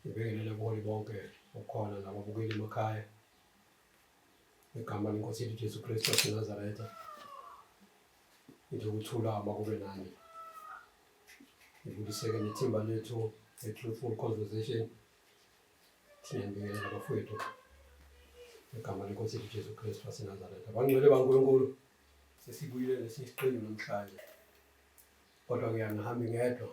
Ngibingelele kuholi bonke okhona nababukeli emakhaya ngegama lenkosi yethu Jesu Kristu waseNazaretha ngithi ukuthula makube nani ngibuyiseke nethimba lethu le-truthful conversation siyambingelela bafowethu ngegama lenkosi yethu Jesu Kristu waseNazaretha bangcwele baNkulunkulu sesibuyile nesiqinile namhlanje kodwa ngiyangihambi ngedwa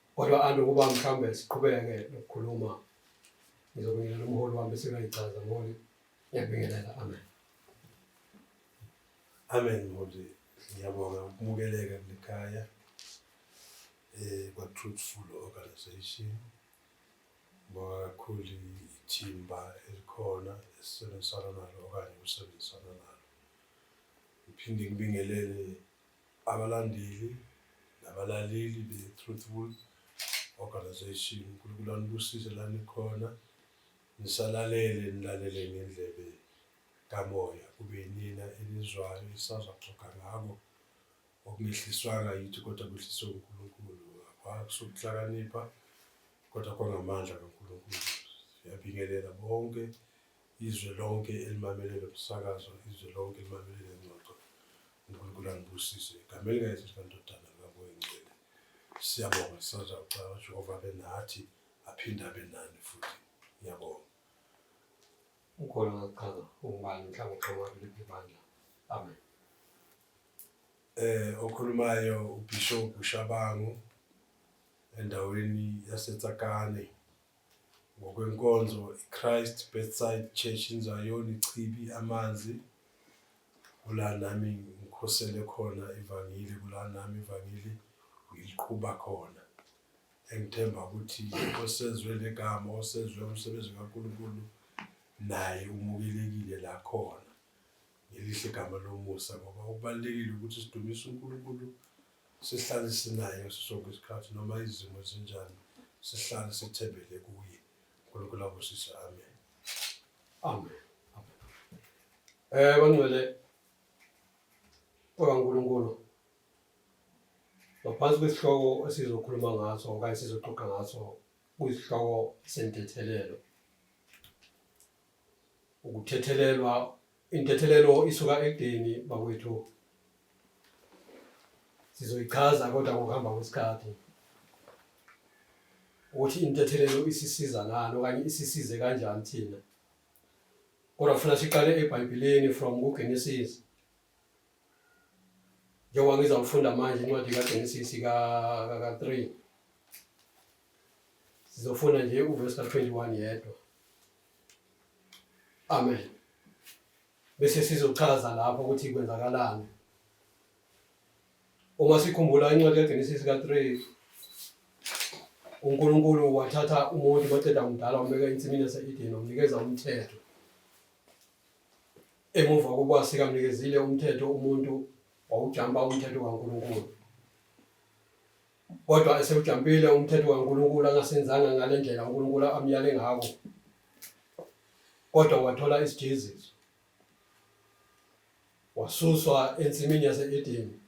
Kodwa alo kuba mhlawumbe siqhubeke nokukhuluma ngizobingelela umholi wami bese kuyayichaza mholi ngiyakubingelela amen amen mholi ngiyabonga ukumukeleka kulekhaya eh kwa truthful organization ngoba kakhulu ithimba elikhona esisebenzisana nalo okanye usebenzisana nalo ngiphinde ngibingelele Abalandeli nabalaleli be-Truthful Organisation, uNkulunkulu anibusise la nikhona. Nisalalele, nilalele ngendlebe kamoya, kube yinina enizwayo isazwa kuxoga ngako okungehliswanga yithi kodwa kwehliswe uNkulunkulu akusokuhlakanipha kodwa kwangamandla kaNkulunkulu siyabingelela bonke izwe lonke elimamelele umsakazo izwe lonke elimamelele ingxoxo uNkulunkulu anibusise igama elikaYesu sikandodana likaMoyengcwele siyabonga sisaza ucaba uJehova abe nathi aphinde abe nani futhi ngiyabonga ukhona ngakuchaza ungubani mhlawumbe uqhamuka kuliphi ibandla amen eh okhulumayo uBishop Shabangu endaweni yaseTsakane ngokwenkonzo iChrist Bedside Church iNzwayoni Chibi amanzi kula nami ngikhosele khona ivangeli kula nami ivangeli ngiliqhuba khona engithemba ukuthi osezwe legama osezwe umsebenzi kaNkulunkulu naye umukelekile la khona ngelihle igama lomusa ngoba okubalulekile ukuthi sidumise uNkulunkulu sihlale sinaye ngaso sonke isikhathi noma izimo zinjani sihlale sithembele kuye unkulunkulu abusise amen amen eh bangcwele kwaNkulunkulu ngaphansi kwesihloko esizokhuluma ngaso okanye sizoxoxa ngaso kuyisihloko sentethelelo ukuthethelelwa intethelelo isuka ekudeni bakwethu sizoyichaza kodwa ngokuhamba kwesikhathi ukuthi intethelelo isisiza ngani okanye isisize kanjani thina kodwa funa siqale ebhayibhileni from kugenesis njengoba ngizawufunda manje incwadi kaGenesis ka-3 sizofunda nje uvesi ka-21 yedwa amen bese sizochaza lapho ukuthi kwenzakalani uma sikhumbula incwadi kaGenesis ka-3 uNkulunkulu wathatha umuntu waceda umdala wambeka ensimini yase-Edeni wamnikeza umthetho Emuva kokuba sikamnikezile umthetho umuntu wawujampa umthetho kaNkulunkulu. Kodwa esewujampile umthetho kaNkulunkulu angasenzanga ngale ndlela uNkulunkulu amyale ngako. Kodwa wathola isijeziso. Wasuswa ensimini yase-Edeni.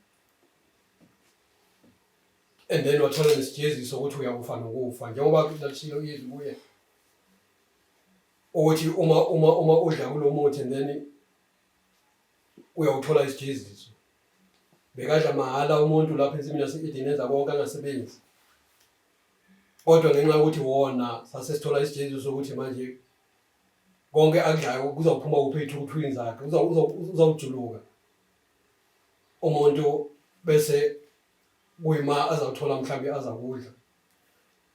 And then wathola nesijeziso ukuthi uyakufa nokufa njengoba lashilo izwi kuye. ukuthi uma uma uma udla kulomuthi and then uyawuthola isijeziso bekadla mahhala umuntu lapha ensimini yase-edeni enza konke angasebenzi kodwa ngenxa yokuthi wona sase sithola isijeziso sokuthi manje konke akudlayo kuzawuphuma kuphi ey'thukuthwini zakhe uzawujuluka umuntu bese kuyima azawuthola mhlawumbe azakudla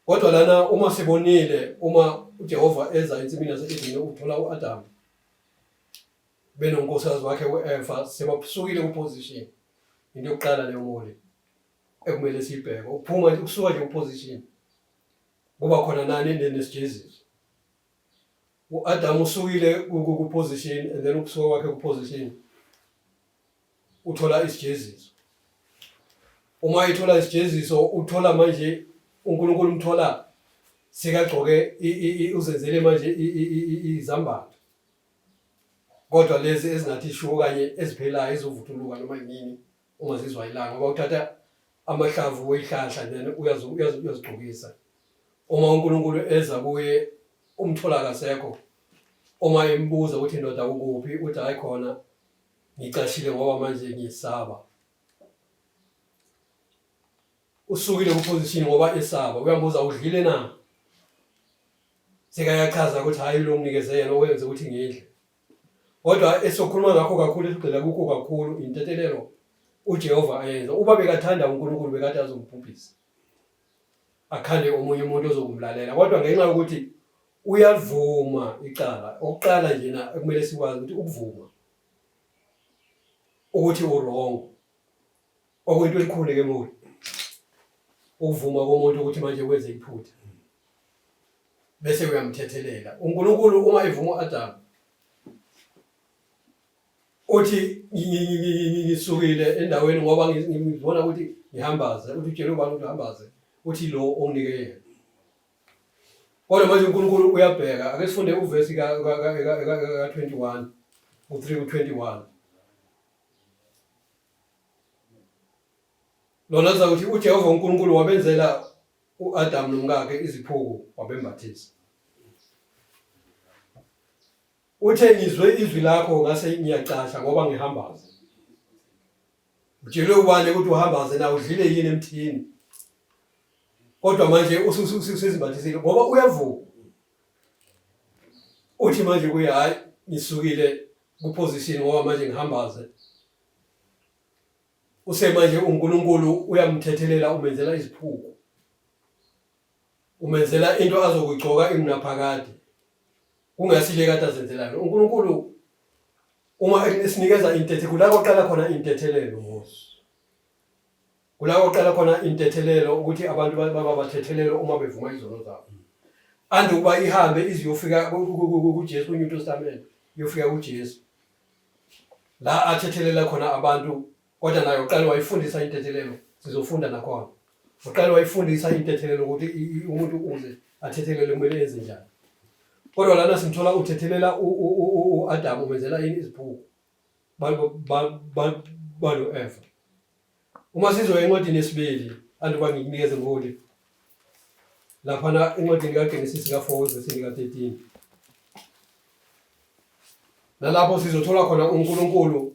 Kodwa lana uma sibonile uma uJehova eza ensimini yase-Edene uthola u-Adamu benonkosikazi wakhe u-Eva sebasukile ku-position into yokuqala leyo mole ekumele siyibheke ukuphuma ukusuka nje ku-position kuba khona nani endeni esijezizo u-Adamu usukile ku-position and then ukusuka kwakhe ku-position uthola isijeziso uma ethola isijeziso uthola manje uNkulunkulu umthola sekagcoke uzenzele manje izambatho kodwa lezi ezingathi shuwo kanye eziphelayo ezovuthuluka noma yini uma zizwa ilanga ngoba uthatha amahlamvu weyihlahla then uyazigcokisa uma uNkulunkulu eza kuye umthola kasekho uma embuza ukuthi indoda ukuphi uthi hayi khona Ngicashile ngoba manje ngiyesaba. Usukile kuposition ngoba esaba. Uyambuza udlile na? Sekayachaza ukuthi hayi lo nginikeze yena owenze ukuthi ngidle. Kodwa esokhuluma ngakho kakhulu esigxila kukho kakhulu intethelelo uJehova ayenza. Uba bekathanda uNkulunkulu bekade azombhubhisa. akhale omunye umuntu ozokumlalela kodwa ngenxa yokuthi uyavuma icala okuqala nje na ekumele sikwazi ukuthi ukuvuma ukuthi uwrong okwento elikhulu ke muli ukuvuma komuntu ukuthi manje wenze iphutha bese uyamthethelela uNkulunkulu uma evuma uAdam uthi ngisukile endaweni ngoba ngibona ukuthi ngihambaze uthi utshele ubani ukuthi uhambaze uthi lo onginike yena kodwa manje unkulunkulu uyabheka ake sifunde uvesi ka-21 u-3 ku-21 lona liza kuthi ujehova unkulunkulu wabenzela u-adamu nomkakhe iziphuku wabembathisa Uthe ngizwe izwi lakho ngase ngiyacasha ngoba ngihambaze. Utshelwe ubani ukuthi uhambaze na udlile yini emthini? Kodwa manje ususizibathisile ngoba uyavuka. Uthi manje kuye hayi ngisukile kuposition ngoba manje ngihambaze. Usemanje uNkulunkulu uyamthethelela umenzela iziphuku. umenzela into azokugcoka imnaphakade kungasile kade azenzela yona uNkulunkulu uma esinikeza intethe kula koqala khona intethelelo ngosi kula koqala khona intethelelo ukuthi abantu baba bathethelelo uma bevuma izono zabo ande ukuba ihambe iziyofika kuJesu kwiNew Testament iyofika kuJesu la athethelela khona abantu kodwa naye uqale wayifundisa intethelelo sizofunda nakhona uqale wayifundisa intethelelo ukuthi umuntu uze athethelele kumele enze njani kodwa lana simthola uthethelela u-adam umenzela yini iziphuku balo-eva uma sizoya encwadini yesibili andiba ngikunikeze ngoli laphana encwadini kagenesisi ka-four wevesini ka-thirteen nalapho sizothola khona unkulunkulu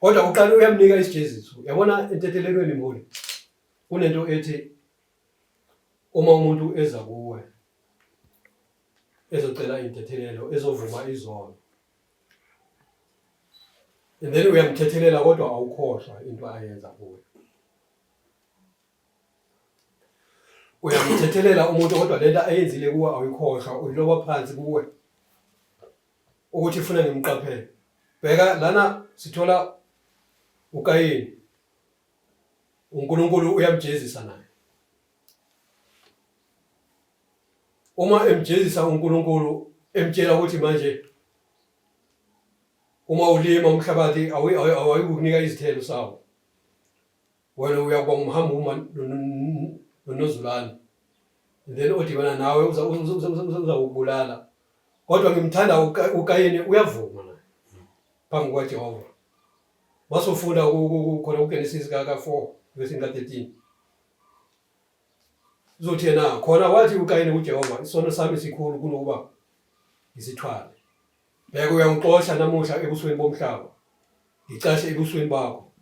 Kodwa kuqala uyamnika isijeziso. Yabona entethelekweni mholi. Kunento ethi uma umuntu eza kuwe ezocela intethelelo ezovuma izono. And then uyamthethelela kodwa awukhohlwa into ayenza kuwe. Uyamthethelela umuntu kodwa lento ayenzile kuwe awuyikhohlwa uyiloba phansi kuwe. ukuthi ifuna ngimqaphele bheka lana sithola ukayini uNkulunkulu uyamjezisa naye uma emjezisa uNkulunkulu emtshela ukuthi manje uma ulima umhlabathi awuyikukunika izithelo sawo wena uyakuba umhamba uma nonozulane then odibana nawe uzakubulala kodwa ngimthanda ukayeni uyavuma na phambi kwajehova wasofunda khona kugenesis kaka-four vesini ka-thirteen uzothi yena khona wathi ukayeni kujehova isono sami sikhulu kunokuba ngisithwale bheke uyangixosha namuhla ebusweni bomhlaba ngicashe ebusweni bakho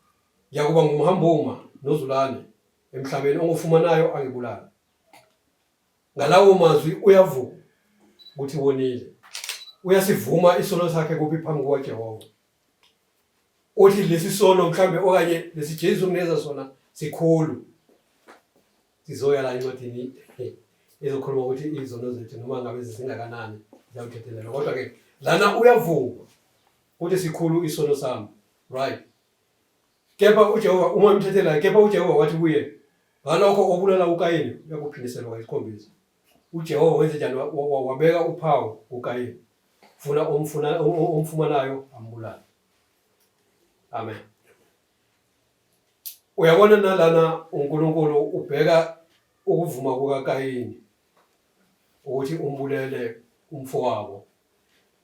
Ngiyakuba ngumhambuma nozulane emhlabeni ongufumanayo angibulale. Ngalawo mazwi uyavuka ukuthi wonile. Uyasivuma isono sakhe kuphi phambi kukaJehova. Uthi lesi sono mhlambe okanye lesi Jesu kuneza sona sikhulu. Sizoya la incwadini ezokhuluma ukuthi izono zethu noma ngabe zisingakanani ziyawuthethelelwa. Kodwa ke lana uyavuma ukuthi sikhulu isono sami. Right. Kepha uJehova uma emthethelayo, kepha uJehova wathi kuye, ngalokho obulala uKayini uyakuphindiselwa kayisikhombisa. UJehova wenze njani? Wabeka uphawu kuKayini, funa omfuna omfumanayo ambulale. Amen. Uyabona nalana uNkulunkulu ubheka ukuvuma kukaKayini ukuthi umbulele umfowabo.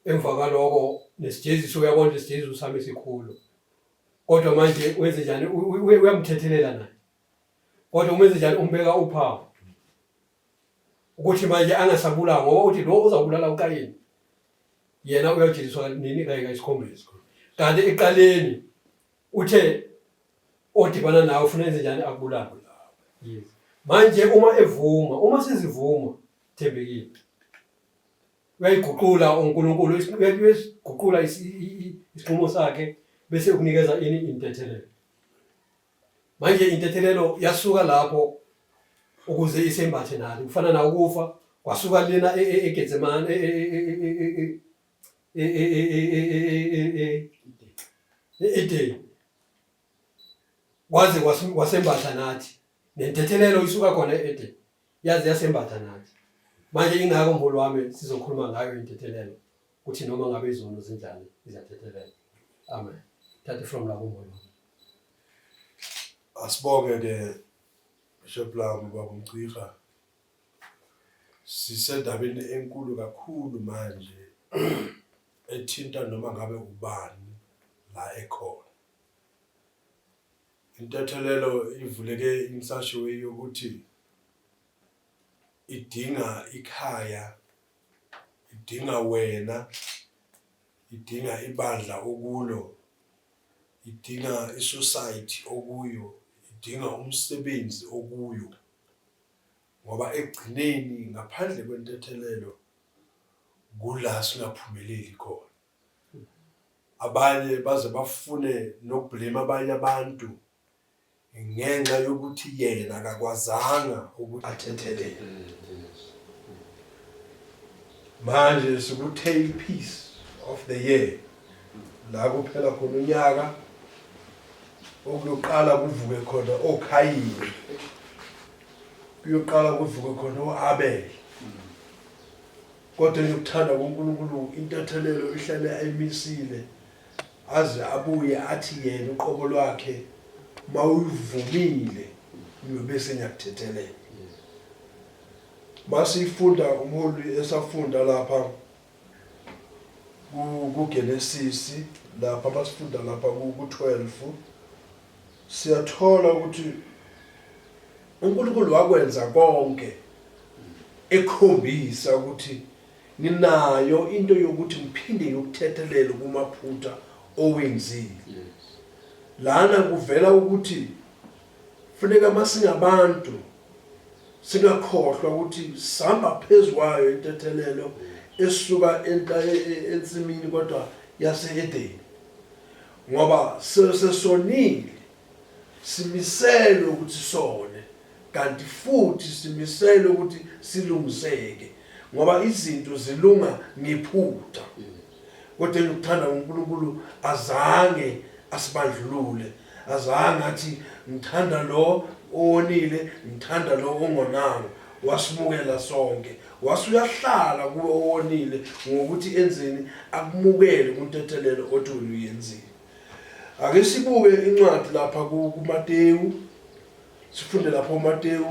Emva kwaloko nesijeziso uyabona isijeziso sami esikhulu. Kodwa manje wenze njani? Uyamthethelela naye. Kodwa umenze njani? Umbeka uphawu ukuthi manje angasabulawa ngoba uthi lo uzabulala uKayini yena uyojeliswa nini kanye kayisikhombisa kanti eqaleni uthe odibana nawe ufuna enze njani akubulawe manje uma evuma uma sizivuma thembekile uyayiguqula uNkulunkulu uyasiguqula isinqumo sakhe bese ukunikeza ini intethelelo manje intethelelo yasuka lapho ukuze isembathe nalo kufana na ukufa kwasuka lena eGetsemane Edeni waze wasembatha nathi nentethelelo isuka khona eEdeni yaze yasembatha nathi manje ingako mbulu wami sizokhuluma ngayo intethelelo ukuthi noma ngabe izono zinjani izathethelela amen thathe from lapho mbulu wami asibonge ke bishop lami baba umciha sisendabeni enkulu kakhulu manje ethinta noma ngabe ubani la ekhona Intethelelo ivuleke insasho eyokuthi idinga ikhaya, idinga wena, idinga ibandla okulo, idinga isociety okuyo, idinga umsebenzi okuyo. Ngoba ekugcineni ngaphandle kwentethelelo kula singaphumeleli khona. Abanye baze bafune nokublema abanye abantu ngenxa yokuthi yena akakwazanga ukuthi athethelele. Manje sikuthe ipiece of the year la kuphela khona unyaka okuyoqala kuvuke khona oKhayini kuyoqala kuvuke khona oAbel Kodwa eyokuthanda kuNkulunkulu intathelelo ihlale ayimisile aze abuye athi yena uqobo lwakhe mawuyivumile ngiyobe sengiyakuthethelela. Masiyifunda umholi esafunda lapha kuGenesisi lapha masifunda lapha ku-12 Siyathola ukuthi uNkulunkulu wakwenza konke ekhombisa ukuthi nginayo into yokuthi ngiphinde ngikuthethelele kumaphutha owenzile. Lana kuvela ukuthi funeka masingabantu singakhohlwa ukuthi sihamba phezu kwayo intethelelo esuka e, e, ensimini kodwa yase-edeni Ngoba sesesonile, simiselwe ukuthi sone, kanti futhi simiselwe ukuthi silungiseke, ngoba izinto zilunga ngephutha. Kodwa engikuthanda uNkulunkulu azange asibandlulule, azange athi ngithanda lo owonile, ngithanda lo ongonanga, wasimukela sonke. Wase uyahlala kuwe owonile ngokuthi enzeni akumukele kuntethelelo othi wena uyenzile. Ake sibuke incwadi lapha kuMateyu. Sifunde lapha uMateyu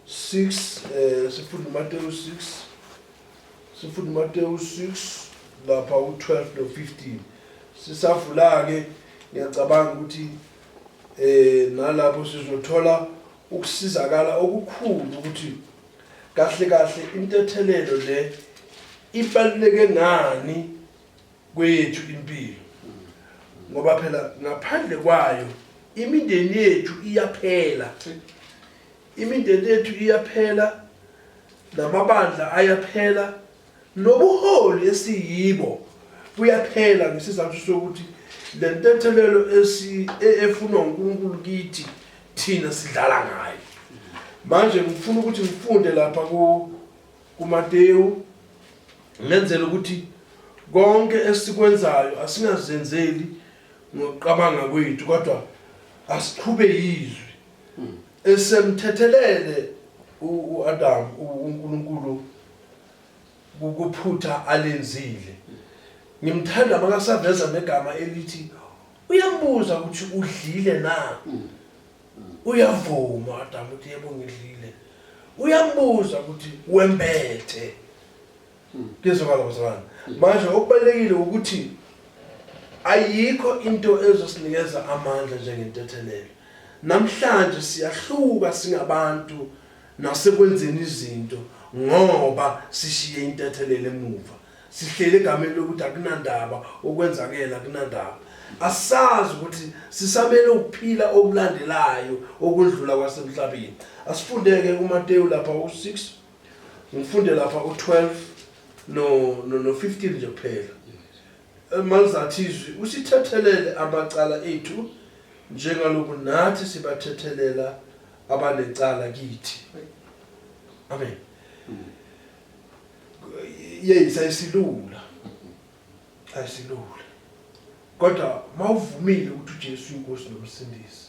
6 eh sifunde uMateyu 6 sifunde uMateyu 6 lapha u12 no15 sisavula ke ngiyacabanga ukuthi eh nalapho sizothola ukusizakala okukhulu ukuthi Kahle kahle intethelelo le ibaluleke ngani kweyethu impilo ngoba phela ngaphandle kwayo imindeni yethu iyaphela imindeni yethu iyaphela namabandla ayaphela nobuholi esiyibo buyaphela ngesizathu sokuthi le ntethelelo e, efunwa uNkulunkulu kithi thina sidlala ngayo manje ngifuna ukuthi ngifunde lapha ku kuMateyu ngenzela ukuthi konke esikwenzayo asingazenzeli ngokuqabanga kwethu kodwa asiqhube yizwi hmm. esemthethelele uAdam uNkulunkulu ukuphutha alenzile ngimthanda makasaveza negama elithi Uyambuza ukuthi udlile na? Uyavuma uAdamu ukuthi yebo ngidlile. Uyambuza ukuthi wembethe. Ngizokala bazalwane. Manje okubalekile ukuthi ayikho into ezosinikeza amandla njengentethelelo. Namhlanje siyahluka singabantu nasekwenzeni izinto ngoba sishiye intethelelo emuva. Sihleli egameni lokuthi akunandaba okwenzakele akunandaba. Asazi ukuthi sisamele ukuphila okulandelayo okundlula kwasemhlabeni. Asifundeke kuMateyu lapha u6 ngifunde lapha u12 no no 15 nje kuphela. Malizathizwi usithethelele amacala ethu njengaloku nathi sibathethelela abanecala kithi. Amen. yes ayisilula ayisilula kodwa mawuvumile ukuthi uJesu inkosi nomsindisi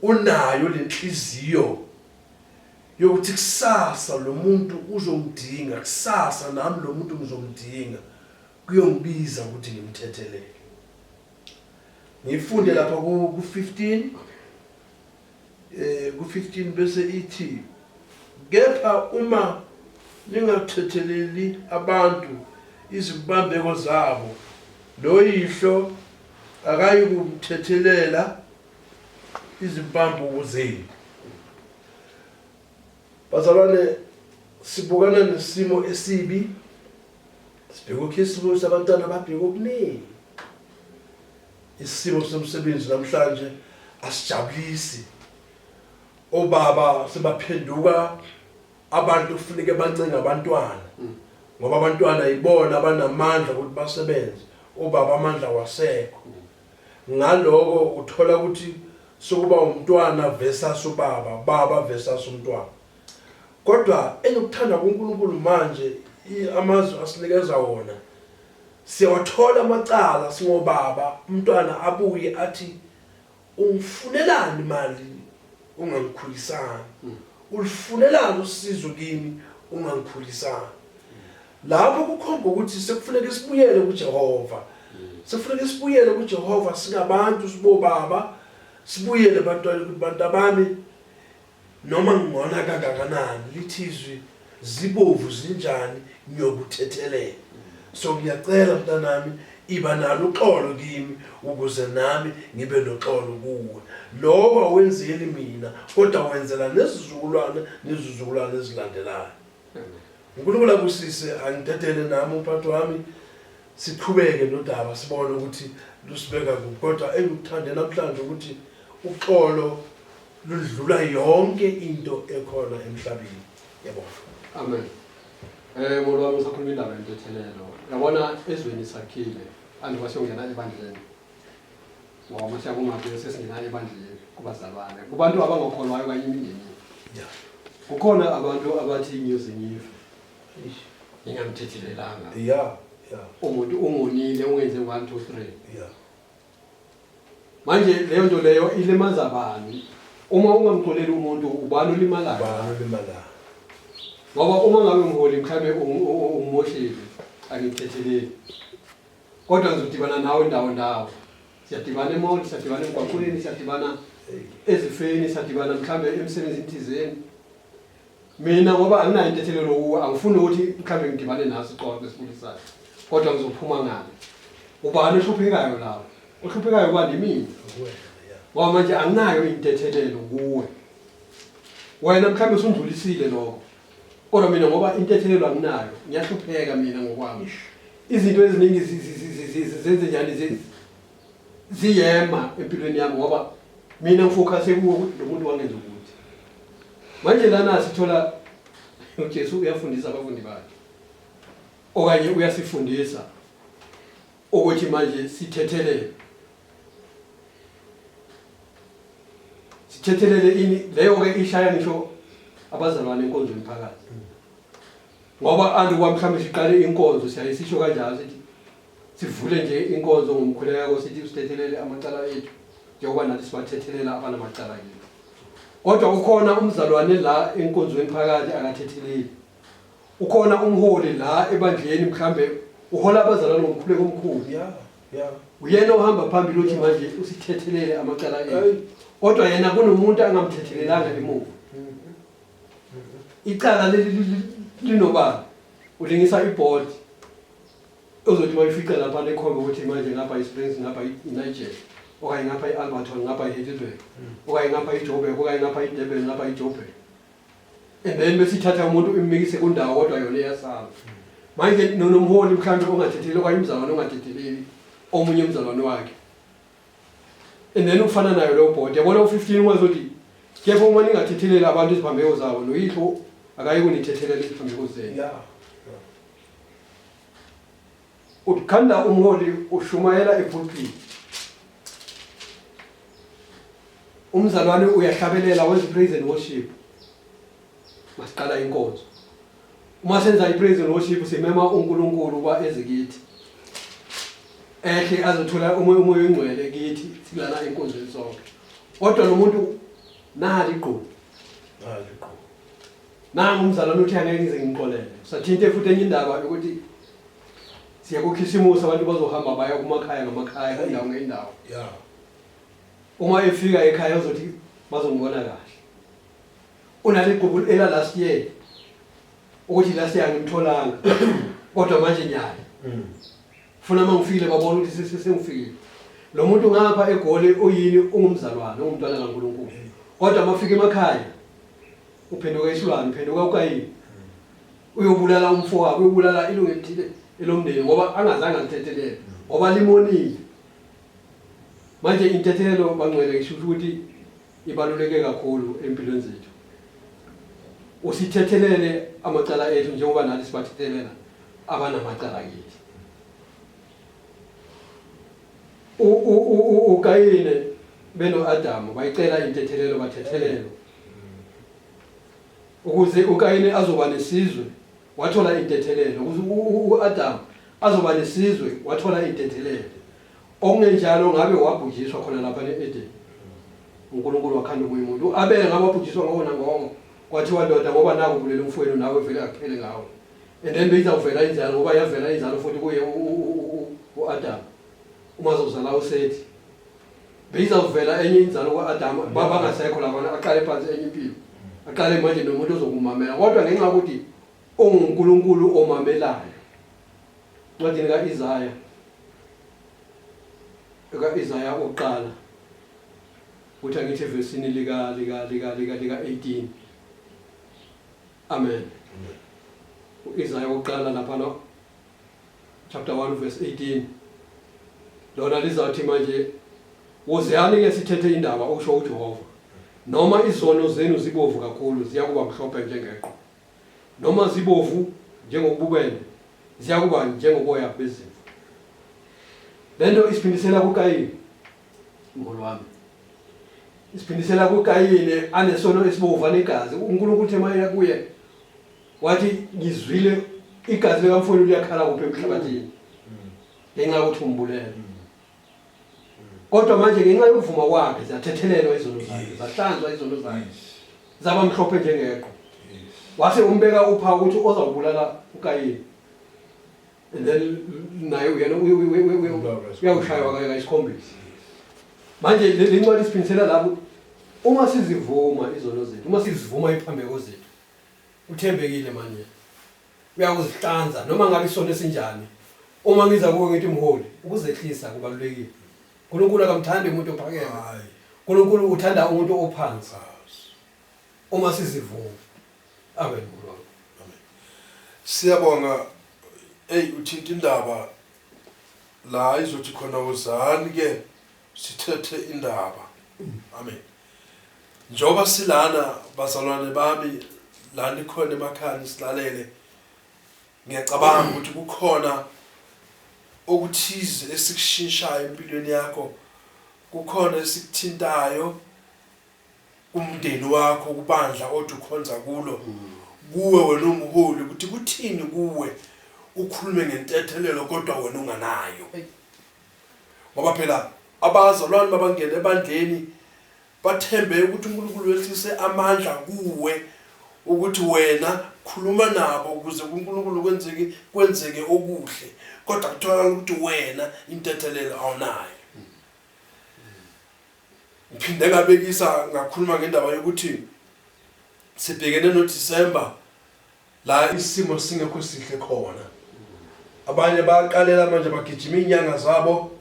unayo lenhliziyo yokuthi kusasa lo muntu uzongidinga kusasa nami lo muntu ngizomdinga kuyongibiza ukuthi ngimthethelele ngifunde lapha ku 15 eh ku-15 bese ithi kepha uma ningathetheleli abantu izibambeko zabo noyihlo akayikuthethelela izibambuko zenu bazalwane sibukana nesimo esibi sibheka ukhisimusi abantwana babheka okuningi Isimo somsebenzi namhlanje asijabulisi. Obaba sebaphenduka abantu kufuneka bancenga abantwana ngoba abantwana yibona abanamandla ukuthi basebenze. Obaba amandla wasekho. Ngaloko uthola ukuthi sokuba umntwana versus ubaba, baba versus umntwana. Kodwa engikuthanda kuNkulunkulu manje amazwi asinikeza wona Siyawathola amacala singobaba umntwana abuye athi ungifunelani mali ungangikhulisanga, ulufunelani usizo kimi ungangikhulisanga. Lapho kukhomba ukuthi sekufuneka sibuyele kuJehova. Sekufuneka sibuyele kuJehova singabantu sibobaba sibuyele ebantwaneni ukuthi bantabami Noma ngingona kangakanani lithi izwi zibovu zinjani ngiyokuthethelela so ngiyacela mntanami iba nalo uxolo kimi ukuze nami ngibe noxolo kuwe lokho awenzeli mina kodwa wenzela nezizukulwane nezizukulwane ezilandelayo uNkulunkulu akusise angidedele nami umphathi wami siqhubeke nodaba sibone ukuthi lusibeka kuphi kodwa engikuthande namhlanje ukuthi uxolo lundlula yonke into ekhona emhlabeni yabo amen eh ngolwami usakhuluma indaba yentethelelo yabona ezweni sakhile andiba siyongena ebandleni ngoba mase yakungabe sesingena ebandleni kubazalwane kubantu abangakholwayo kanye imindeni yeah kukhona abantu abathi ngiyoze ngife ngingamthethelelanga yeah yeah umuntu ungonile ungenze 1 2 3 yeah Manje leyo nto leyo ilimaza bani? Uma ungamxoleli umuntu ubani olimalayo? Ubani olimalayo? Ngoba uma ngabe mholi mhlawumbe ungumoshile angithetheleli. Kodwa ngizodibana nawe ndawo ndawo. Siyadibana emall, siyadibana emgwaqweni, siyadibana ezifeni, siyadibana mhlawumbe emsebenzini thizeni. Mina ngoba anginayo intethelelo kuwe angifuni ukuthi mhlawumbe ngidibane naso ixoxo esibulisayo kodwa ngizophuma ngale. Ubani ohluphekayo lawo? Ohluphekayo kwani mina? Ngoba manje anginayo intethelelo kuwe. Wena mhlawumbe usundlulisile lokho. Kodwa mina ngoba intethelelo anginayo, ngiyahlupheka mina ngokwami. Izinto eziningi zenze njani ziyema empilweni yami ngoba mina ngifokhase kuwo ukuthi lo muntu wangenza ukuthi manje lana sithola ujesu uyafundisa abafundi bakhe okanye uyasifundisa ukuthi manje sithethelele sithethelele ini leyo-ke ishaya ngisho abazalwane enkonzweni phakathi Ngoba anti kwa mhlawumbe siqale inkonzo siyaye sisho kanjalo sithi sivule nje inkonzo ngomkhuleko sithi usithethelele amacala ethu njengoba nathi sibathethelela abanamacala ethu. Kodwa ukhona umzalwane la enkonzweni phakathi akathetheleli. Ukhona umholi la ebandleni mhlawumbe uhola abazalwane ngomkhuleko omkhulu. Yeah, yeah. Uyena ohamba phambili uthi manje usithethelele amacala ethu. Kodwa yena kunomuntu angamthethelelanga emuva. icala leli li- li- linobani ulingisa ibhodi ozothi bayifica lapha nekhombe ukuthi manje ngapha isprings ngapha inigel okanye ngapha i-alberton ngapha i-heidelberg okanye ngapha ijobek okanye ngapha idebel ngapha ijobek and then besithatha umuntu ummikise kundawo kodwa yona iyasala manje nonomholi mhlawumbe ongathetheleli okanye umzalwane ongathetheleli omunye umzalwane wakhe and then ufana nayo leyo bhodi yabona u-15 uma zothi kepha uma ningathetheleli abantu iziphambeko zabo noyihlo akayi kunithethelela iziphambeko zenu yeah. ukhanda umholi ushumayela epulpiti umzalwane uyahlabelela wenza i-praise and worship masiqala inkonzo Uma senza i-praise and worship simema uNkulunkulu uba eze kithi. Ehle azothola umoya umoya oyingcwele kithi silana enkonzweni sonke. Kodwa lo muntu nali igqubu. Nali igqubu. Nangu umzalwane uthi angeke ngize ngimxolele. Sathinte futhi enye indaba ukuthi siyakukhisimusa abantu bazohamba baya kumakhaya ngamakhaya indawo ngendawo. Yeah. Uma efika ekhaya uzothi bazongibona kahle. Unale Google ela last year ukuthi last year ngimtholanga kodwa manje nyaya mm. funa uma ngifile babona ukuthi sesengifile lo muntu ngapha egoli uyini ungumzalwane ungumntwana kaNkulunkulu kodwa uma fika emakhaya uphenduka isilwane uphenduka ukayini mm. uyobulala umfo wakhe uyobulala ilungu elithile elomndeni ngoba angazange alithethelele mm. ngoba limonile manje intethelelo bangcwele ngisho ukuthi ibaluleke kakhulu empilweni zethu. Usithethelele amacala ethu njengoba nathi sibathethelela abanamacala kithi. UKayine beno-Adamu bayicela intethelelo bathethelelo ukuze uKayine azoba nesizwe wathola intethelelo ukuze u-Adamu azoba nesizwe wathola intethelelo Okungenjalo ngabe wabhujiswa khona lapha ne-Edeni. UNkulunkulu wakhanda omunye umuntu. U-Abele ngabe wabhujiswa ngowo nangowo. Kwathiwa, Ndoda, ngoba naku ubulele umfowenu, nawe vele akuphele ngawe. And then beyizawuvela inzalo, ngoba yavela inzalo futhi kuye u, u, u, u, u, u-Adamu. Uma zozala uSethi. Beyizawuvela enye inzalo kwa-Adamu, babangasekho labana, aqale phansi enye impilo. Aqale manje nomuntu ozokumamela. Kodwa ngenxa yokuthi OnguNkulunkulu omamelayo. Ncwadini ka-Isaya, ka-Isaya oqala, ukuthi angithi evesini lika lika lika lika lika 18 amen uIsaya uqala lapha no chapter 1 verse 18 lona lizathi manje woziyani ke sithethe indaba usho uJehova noma izono zenu zibovu kakhulu ziyakuba mhlophe njengeqo Noma zibovu njengobubende, ziyakuba njengoboya bezimvu. Le nto isiphindisela kuKayini, mholi wami. Isiphindisela kuKayini anesono esibovu anegazi. UNkulunkulu uthe mayela kuye wathi ngizwile igazi likamfowenu liyakhala kuphi emhlabathini ngenxa yokuthi umbulele. kodwa manje ngenxa yokuvuma kwakhe zathethelelwa izono zakhe zahlanzwa izono zakhe zaba mhlophe njengeqo wase umbeka upha ukuthi ozawubulala ukayini and then naye uyena uyawushaywa kanye kayisikhombisa manje le ncwadi siphindisela lapho uma sizivuma izono zethu uma sizivuma iphambeko zethu uthembekile manje uyakuzihlanza noma ngabe isona esinjani uma ngiza kuwe ngithi mholi ukuzehlisa kubalulekile uNkulunkulu akamthandi umuntu ophakeme uNkulunkulu uthanda umuntu ophansi uma sizivuma amen amen siyabonga hey uthinta indaba la izothi khona uzani ke sithethe indaba amen Njengoba silana bazalwane bami la nikhona emakhaya silalele ngiyacabanga ukuthi kukhona okuthize esikushinshayo empilweni yakho kukhona esikuthintayo umndeni wakho kubandla othi ukhonza kulo kuwe wena umholi ukuthi kuthini kuwe ukhulume ngentethelelo kodwa wena unganayo Ngoba phela abazalwane babangena ebandleni bathembe ukuthi uNkulunkulu wehlise amandla kuwe ukuthi wena khuluma nabo ukuze kuNkulunkulu kwenzeke kwenzeke okuhle kodwa kutholakala ukuthi wena intethelelo awunayo ngiphinde ngabekisa ngakhuluma ngendaba yokuthi sibhekene noDisemba La isimo singekho sihle khona. Abanye bayaqalela manje bagijima inyanga zabo,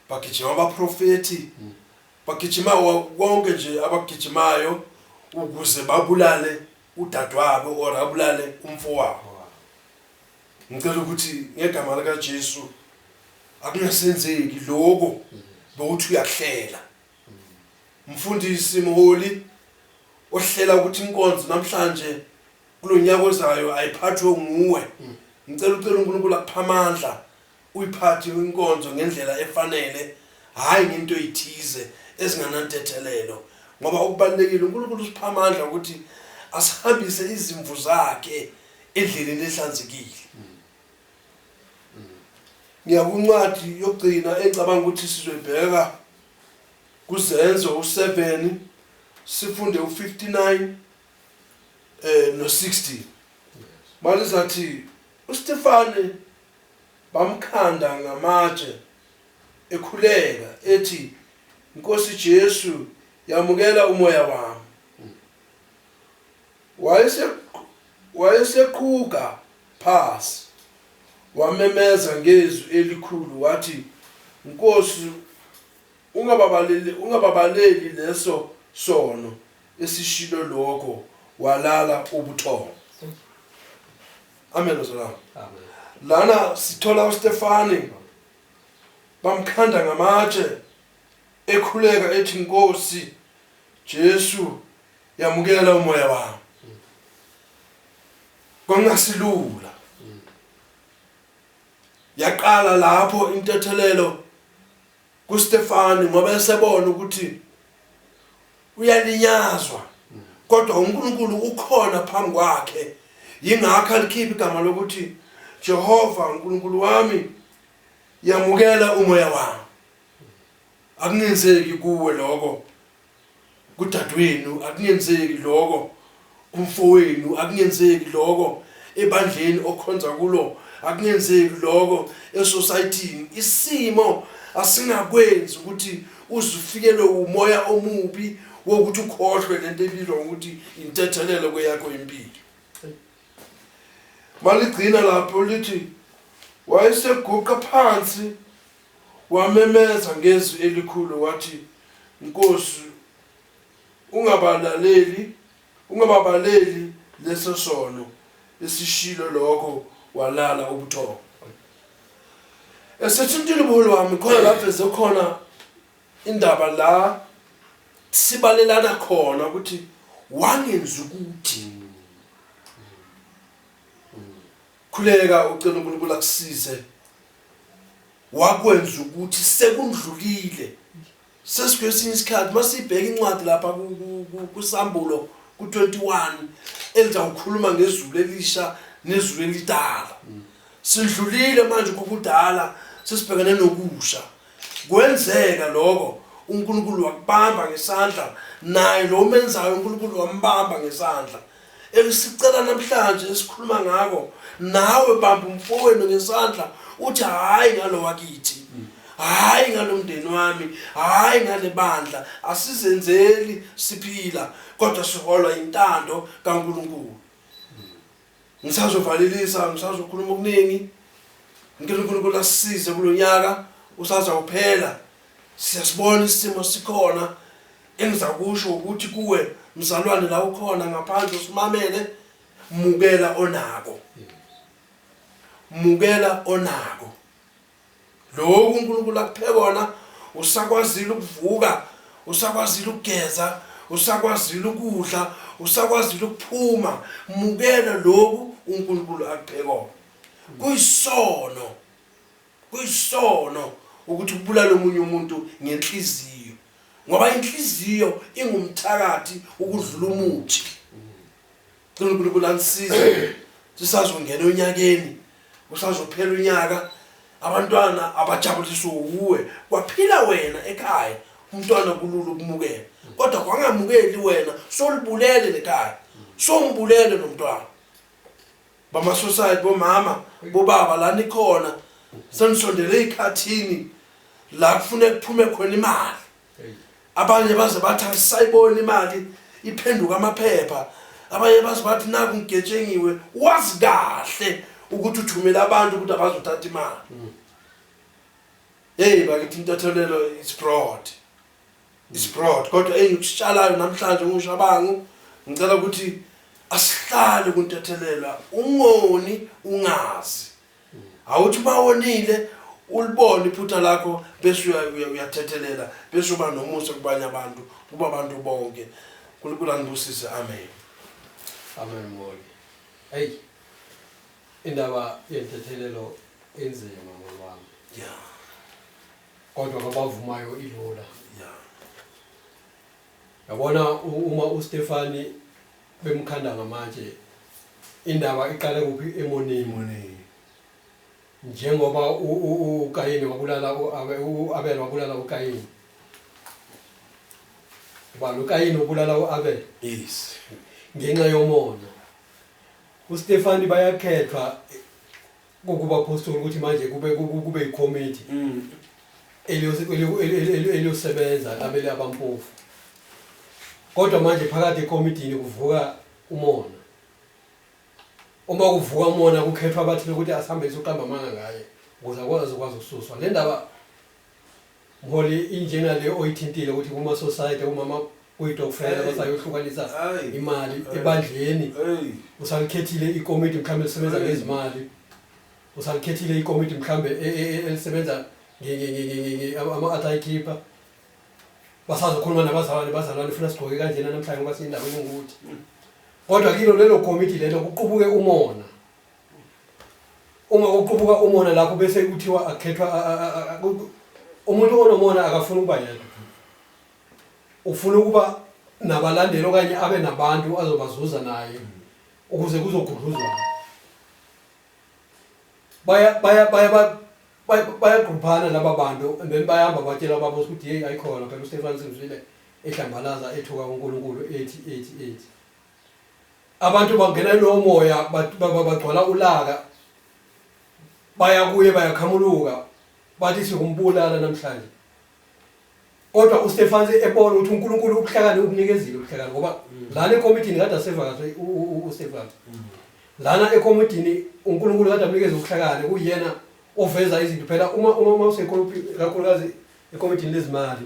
bagijima abaprofeti, bagijima konke nje abagijimayo ukuze babulale udadewabo or abulale umfowabo. Ngicela ukuthi ngegama lika Jesu akungasenzeki lokho bokuthi uyakuhlela. Mfundisi mholi ohlela ukuthi inkonzo namhlanje kulo nyaka ozayo ayiphathwe nguwe ngicela ucela unkulunkulu akupha amandla uyiphathe inkonzo ngendlela efanele hhayi ngento eyithize ezinganantethelelo ngoba okubalulekile unkulunkulu usipha amandla ukuthi asihambise izimvu zakhe endleleni ehlanzekile ngiyakuncwadi yokugcina engicabanga ukuthi sizoyibheka kuzenzo u-7 sifunde u-59 eh no 60 manje sathi uStefane bamkhanda ngamatshe ekhuleka ethi Nkosi Jesu yamukela umoya wami wayese wayeseqhuga phasi wamemeza ngezwi elikhulu wathi Nkosi Ungababaleli, ungababaleli leso sono esishilo lokho walala ubuthongo. Amen bazalwane. Amen. Lana sithola uStefani bamkhanda ngamatshe ekhuleka ethi Nkosi Jesu yamukela umoya wami. Kwangasilula. Yaqala lapho intethelelo KuStefani ngoba esebona ukuthi uyalinyazwa kodwa uNkulunkulu ukhona phambi kwakhe yingakho alikhipha igama lokuthi Jehova uNkulunkulu wami yamukela umoya wami akunenzeki kuwe lokho kudadewenu akungenzeki lokho kumfowenu akungenzeki lokho ebandleni okhonza kulo akungenzeki lokho esociety isimo asingakwenzi ukuthi uzifikelwe umoya omubi wokuthi ukhohlwe lento ebizwa ngokuthi intethelelo kweyakho impilo maligcina lapho lithi wayeseguqa phansi Wamemeza ngezwi elikhulu wathi, Nkosi, ungabalaleli, ungababaleli leso sono. Esishilo lokho walala ubuthongo. Esethintile ubuholi wami khona lapho khona indaba la sibalelana khona ukuthi wangenza ukuthi Khuleka ucela uNkulunkulu akusize wakwenza ukuthi sekundlulile sesikwesinye isikhathi masibheka incwadi lapha kusambulo ku-21 elizawukhuluma ngezulu elisha nezulu elidala sidlulile manje kokudala sesibhekane nokusha kwenzeka lokho uNkulunkulu wakubamba ngesandla naye lo menzayo uNkulunkulu wambamba ngesandla elisicela namhlanje esikhuluma ngako nawe bamba umfowenu ngesandla uthi hayi ngalo wakithi hayi ngalomndeni wami hayi ngalebandla asizenzeli siphila kodwa siholwa intando kaNkuluNkulu ngisazovalelisa ngisazokhuluma okuningi ngeke uNkulunkulu asize kulonyaka usaza kuphela Siyasibona isimo sikhona engizakusho ukuthi kuwe mzalwane la ukhona ngaphandle usimamele mukela onako mukela onako lokhu uNkulunkulu akuphe kona usakwazile ukuvuka usakwazile ukugeza usakwazile ukudla usakwazile ukuphuma mukela lokhu uNkulunkulu akuphe kona kuyisono Kuyisono ukuthi ubulale omunye umuntu ngenhliziyo ngoba inhliziyo ingumthakathi ukudlula umuthi. Cela uNkulunkulu anisize sisazongena onyakeni usazophela unyaka abantwana abajabuliswe wuwe kwaphila wena ekhaya umntwana kulula ukumukela kodwa kwangamukeli wena solibulele lekhaya sombulele nomntwana Bama suicide bomama bobaba la nikhona senisondele ikhathini la kufune kuphume khona imali abanye baze bathi asayibona imali iphenduka amaphepha abanye baze bathi naku ngigetshengiwe wazi kahle ukuthi uthumela abantu ukuthi abazothatha imali hey bakithi intathelelo is broad is broad kodwa engikushalayo namhlanje ngushabangu ngicela ukuthi asihlale kuntethelelwa ungoni ungazi awuthi uma wonile ulibone iphutha lakho bese uyathethelela bese uba nomusa kubanye abantu kuba abantu bonke unkulunkulu anibusise amen amen moli eyi indaba yentethelelo enzima moli wami ya yeah. kodwa abavumayo ilula yabona uma uStefani bemkhanda ngamatshe indaba iqale kuphi emonini njengoba uKayini wabulala uAbel wabulala uKayini ba loKayini ubulala uAbel yes ngenxa yomona uStefani bayakhethwa kubaphostoli ukuthi manje kube kube ikomiti mm. eliyosebenza labele abampofu kodwa manje phakathi ekomitini kuvuka umona uma kuvuka umona kukhethwa abathile ukuthi asihambelise uqamba amanga ngaye ukuze akwazi ukwazi ukususwa le ndaba Mholi injena le oyithintile ukuthi kuma society umama uyidokufela basayohlukanisa imali ebandleni usalikhethile ikomiti mhlawumbe lisebenza ngezimali usalikhethile ikomiti mhlawumbe e, e, e, elisebenza ama-athy keeper basazokhuluma nabazalwane bazalwane funa sigqoke kanjena namhlanje ngoba siyindawo engukuthi kodwa kilo lelo komiti lelo kuqubuke umona uma kuqubuka umona lapho bese kuthiwa akhethwa umuntu onomona akafuni ukuba yedwa ufuna ukuba nabalandeli okanye abe nabantu azobazuza naye ukuze kuzogudluzwa baya baya baya bayagruphana laba bantu and then bayahamba batshela baba ukuthi hey ayikhona phela uStefan Simzwile ehlambalaza ethuka uNkulunkulu ethi ethi ethi abantu bangena ilowo moya bat- ba- ba- bagcwala ulaka baya kuye bayakhamuluka bathi siyombulala namhlanje kodwa uStefan ebona ukuthi uNkulunkulu ubuhlakani ubunikezile ubuhlakani ngoba lana ekomidini kade asevakashe u- u- u- uStefan lana ekomidini uNkulunkulu kade amnikeza ubuhlakani kuyena oveza izinto phela uma uma uma usekhuluphi kakhulukazi ekomidini lezimali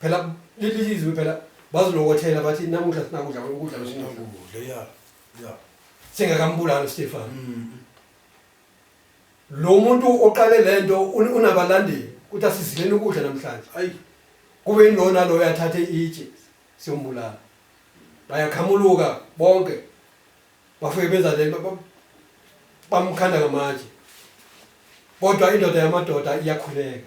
phela leli lizwe phela bazilokothela bathi namuhla sinakudla ukudla besinokudla ya ya singakambulali Stefan mm. lo muntu oqale lento unabalandeli ukuthi asizileni ukudla namhlanje ayi kube inona lo yathathe itshe siyombulala bayakhamuluka bonke bafike benza le bamkhanda ngamatshe kodwa indoda yamadoda iyakhuleka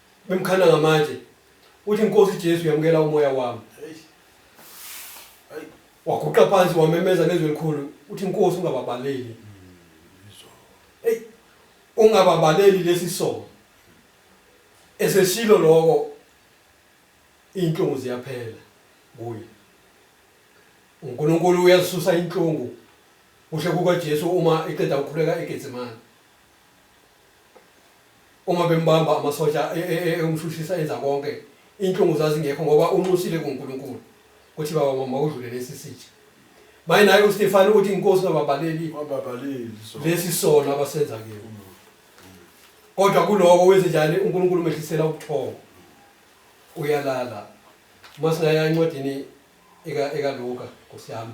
Bemkhanda ngamatshe. Uthi Nkosi Jesu yamukela umoya wami. Waguqa phansi wamemeza ngezwi elikhulu uthi Nkosi ungababaleli. Hey ungababaleli lesi sono. Eseshilo lokho inhlungu ziyaphela kuye. UNkulunkulu uyazisusa inhlungu kusho kukaJesu uma eqeda ukukhuleka eGetsemane. uma bembamba amasosha e- e- e- eyomshushisa enza konke inhlungu zazingekho ngoba unxusile kunkulunkulu kuthi baba mama udlule lesi sitsha maye naye ustefani uthi inkosi ngababaleli Wababaleli so. lesi sono abasenza kiyo kodwa kuloko wenze njani unkulunkulu umehlisela ubuthongo uyalala uma singaya encwadini eka- ekaluka nkosi yami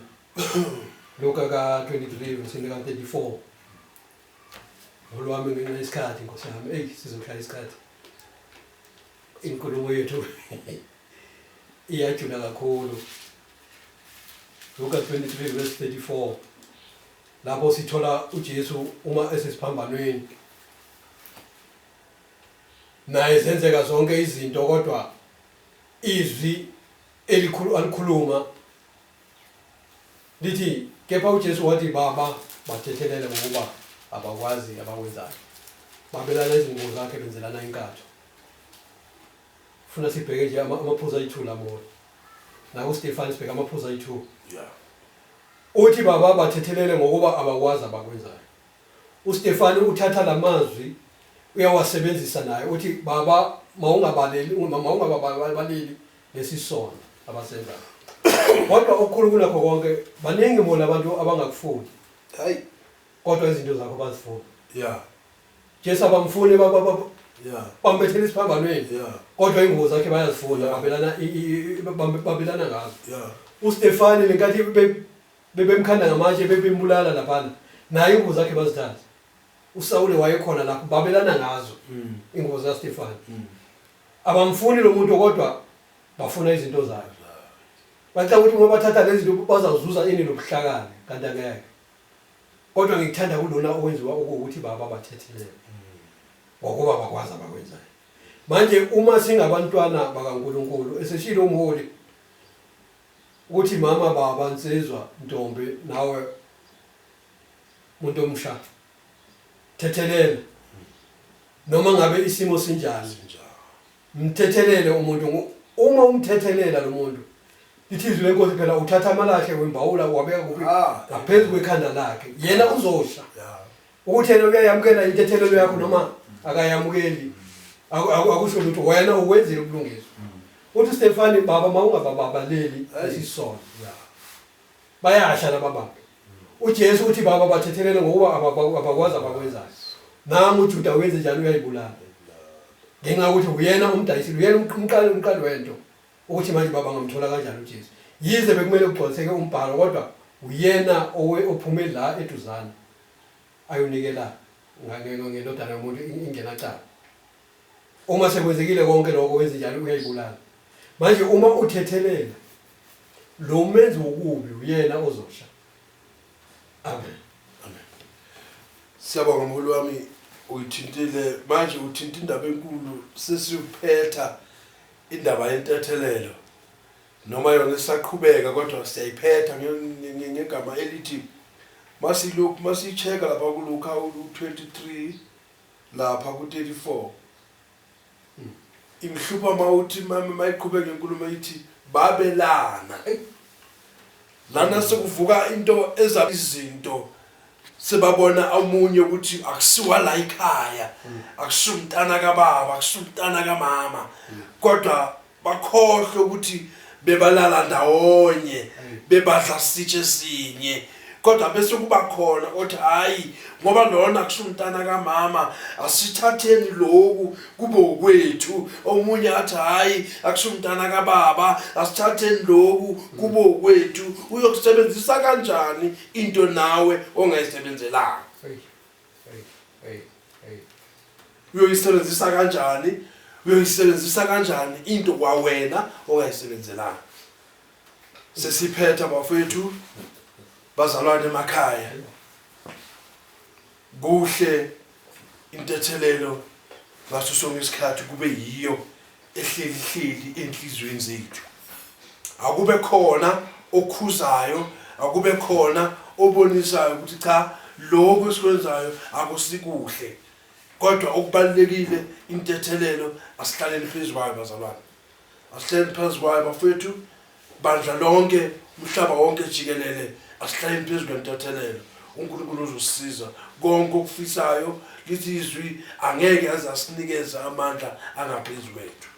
luka ka-23 versini ka-34 olwami ngenxa yesikhathi nkosi yami eyi sizohlala isikhathi inkulumo yethu iyajula kakhulu Luka 23 verse 34 lapho sithola uJesu uma esesiphambanweni naye zenzeka zonke izinto kodwa izwi elikhulu alikhuluma Lithi, Kepha uJesu wathi, Baba, bathethelele ngokuba abakwazi abakwenzayo. Babelana izingubo zakhe benzelana inkatho. Funa sibheke nje ama- amaphuzu ayi-two lamona. Naku Stefani sibheke amaphuzu ayi-two. Yeah. Uthi baba bathethelele ngokuba abakwazi abakwenzayo. UStefani uthatha lamazwi uyawasebenzisa naye uthi baba mawungabaleli mawungababaleli lesi sono abasenzayo kodwa okukhulu kunakho konke baningi bona abantu abangakufuni hayi kodwa izinto zakho bazifuna yeah jesu abamfuni ba- ba- ba- yeah bambethela isiphambanweni yeah kodwa ingubo zakhe bayazifuna babelana i- i- i- bambe- babelana ngazo yeah ustefani lenkathi be- bebemkhanda ngamatshe bebembulala laphana naye ingubo zakhe bazithatha usawule wayekhona lapho babelana ngazo mm. ingubo zikastefani mm. Abamfuni lo muntu kodwa bafuna izinto zakhe. Bacanga ukuthi uma bathatha lezi zinto bazazuza ini nobuhlakani kanti angeke. Kodwa ngikuthanda kulona owenziwa ukuthi baba bathethele. Ngokuba bakwazi abakwenzayo. Manje uma singabantwana bakaNkulunkulu eseshilo umholi ukuthi mama baba nsizwa ntombi nawe muntu omsha thethelela noma ngabe isimo sinjani mthethelele umuntu ngo- uma umthethelela lo muntu lithi izwi lenkosi phela uthatha amalahle wembawula wabeka kuphi Ah. ngaphezu kwekhanda lakhe yena uzosha ya ukuthi yena uyayamukela intethelelo yakho noma akayamukeli aku- aku- akusho lutho wena ukwenzile ubulungiswa uthi stefani baba mawungabababaleli Ayi. isisono ya bayasha laba bantu UJesu uthi, Baba, bathethelele ngokuba abakwa- abakwazi abakwenzayo. Nangu uJuda wenze njalo uyayibulala. Ngenxa yokuthi uyena umdayisile, uyena umq- umqali umqali wento. Ukuthi manje baba ngamthola kanjani uJesu. Yize bekumele kugcwaliseke umbhalo kodwa uyena owe ophume la eduzane ayonikela nga- nge- nge- ngendodana yomuntu in- ingenacala. Uma sekwenzekile konke lokho wenze njalo uyayibulala. Manje uma uthethelela lo menzi wokubi uyena ozosha. Amen. Amen. Siyabonga mholi wami uyithintile manje uthinta indaba enkulu sesiyuphetha indaba yentethelelo noma yona isaqhubeka kodwa siyayiphetha ngegama elithi masilokhu masicheka lapha kulukha olu 23 lapha ku 34 ingihlupha mawuthi mama mayiqhubeka inkulumo ithi babelana lana sekuvuka into eza izinto sebabona omunye ukuthi akusiwa la ikhaya akusumntana kababa akusumntana kamama kodwa bakhohlwe ukuthi bebalala ndawonye bebadla sitshe sinye kodwa bese kuba khona othi hayi ngoba lona kusumntana kamama asithatheni lokhu kube ukwethu omunye athi hayi akusumntana kababa asithatheni lokhu kube ukwethu uyokusebenzisa kanjani into nawe ongayisebenzelanga uyoyisebenzisa kanjani uyoyisebenzisa kanjani into kwawena ongayisebenzelanga sesiphetha bafethu bazalwane emakhaya kuhle intethelelo ngaso sonke isikhathi kube yiyo ehlelihleli enhliziyweni zethu akube khona okhuzayo akube khona obonisayo ukuthi cha lokho esikwenzayo akusikuhle kodwa okubalulekile intethelelo asihlaleni phezu kwayo bazalwane asihlaleni phezu kwayo bafethu Bandla lonke, umhlaba wonke jikelele, asihlayeni phezu kwentethelelo. UNkulunkulu uzosisiza konke okufisayo. Lithi izwi angeke aze asinikeze amandla angaphezu kwethu.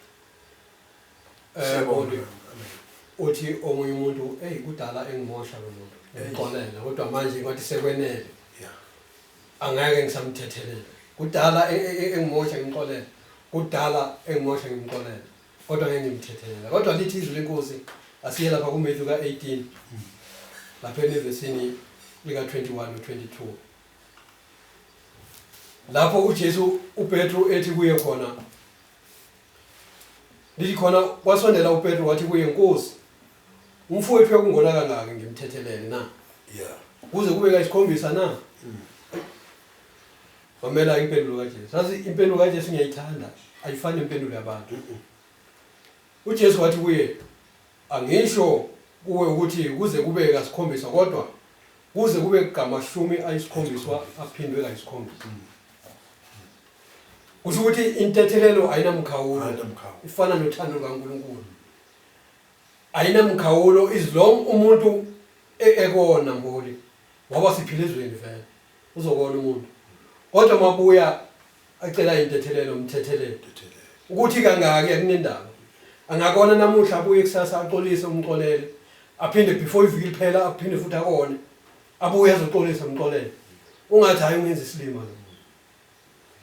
Siyabonga. Uthi omunye umuntu eyi kudala engimosha lo muntu ngimxolela kodwa manje ngathi sekwenele Yeah. angeke ngisamthethelela kudala e- e- e- engimosha ngimxolela kudala engimosha ngimxolela kodwa ngeke ngimthethelela kodwa lithi izwi lenkosi asiye lapha kuMatthew ka-18 lapha enevesini lika-21 no-22 lapho uJesu uPetru ethi kuye khona lithi khona kwasondela uPetru wathi kuye nkosi umfowethu yakungona kangaki ngimthethelele na yeah kuze kube kayisikhombisa na mm. Mamela impendulo kaJesu. Sazi impendulo kaJesu ngiyayithanda. Ayifani nempendulo yabantu. UJesu wathi kuye angisho kuwe ukuthi kuze kube kasikhombisa kodwa kuze kube kamashumi ayisikhombiswa aphindwe kayisikhombisa. Mm. Kusho ukuthi intethelelo ayinamkhawulo. Ifana nothando lukaNkulunkulu. Ayinamkhawulo izilong umuntu e-, ekona mboli. ngoba siphila ezweni vele uzokona umuntu kodwa mabuya acela intethelelo umthethelele ukuthi kangaki akunendaba angakona namuhla abuye kusasa axolise umxolele aphinde before iviki liphela aphinde futhi akone abuye azoxolisa umxolele ungathi hayi ungenza isilima lo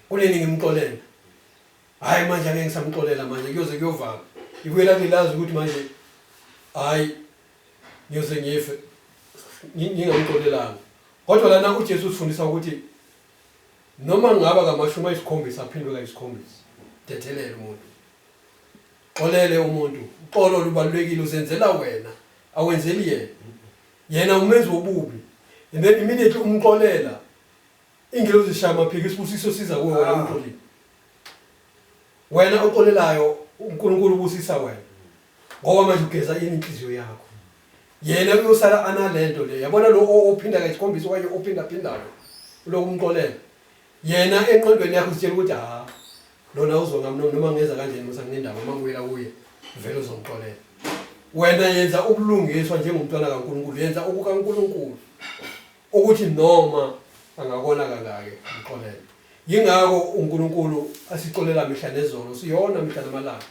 kunini ngimxolela hayi manje angeke ngisamxolela manje kuyoze kuyovala ibuyela kulilazi ukuthi manje hayi ngiyoze ngife ngingamxolelanga kodwa lana uJesu usifundisa ukuthi noma ngaba kamashumi ayisikhombisa aphindwe kayisikhombisa dethelele umuntu xolele umuntu uxolo lubalulekile uzenzela wena awenzeli yena yena umenzi wobubi and then immediately umxolela ingelozi ishaya amaphiko isibusiso siza kuwe wena umxolile wena oxolelayo uNkulunkulu ubusisa wena ngoba manje ugeza yini inhliziyo yakho yena uyosala analento le yabona lo ophinda kayisikhombisa okanye ophinda phindayo uloku umxolela yena enqondweni yakho sitshela ukuthi ha lona uzonga mno noma ngenza kanjeni musa ngendaba uma ngibuyela kuye vele uzongixolela wena yenza ubulungiswa njengomntwana kaNkuluNkulu yenza okukaNkuluNkulu ukuthi noma angakona kangake mxolele yingakho uNkuluNkulu asixolela mihla nezolo siyona mihla namalanga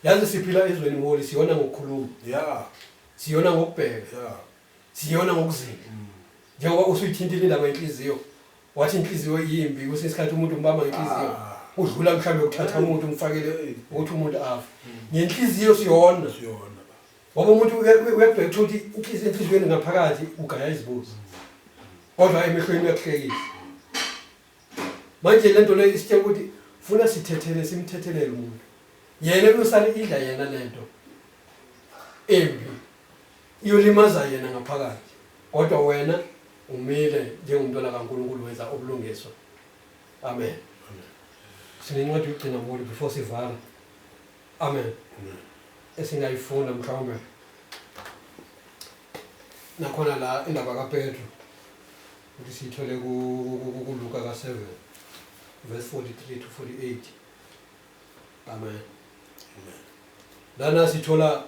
Yazi siphila ezweni mholi siyona ngokukhuluma. Yeah. Siyona ngokubheka. Yeah. Siyona ngokuzila. Mm. Njengoba usuyithintile indaba yenhliziyo. Wathi inhliziyo yimbi kwesinye isikhathi umuntu umbamba ngenhliziyo. Ah. Udlula mhlawumbe ukuthatha umuntu umfakele ukuthi umuntu afa. Mm. Ngenhliziyo siyona. Siyona. ngoba umuntu uyabheka ukuthi inhliziyo enhliziyweni ngaphakathi ugaya izibuzo kodwa emehlweni uyakuhlekisa manje lento le isitshela ukuthi funa sithethele simthethelele umuntu yena uyosale idla yena lento embi iyolimaza yena ngaphakathi kodwa wena umile njengomntwana kaNkulunkulu wenza ubulungiswa amen sinencwadi yokugcina kulo before sivala amen esingayifunda mhlawumbe nakhona la indaba kaPetru Futhi siyithole kuLuka ka 7 verse 43 to 48. Amen. Amen. Lana sithola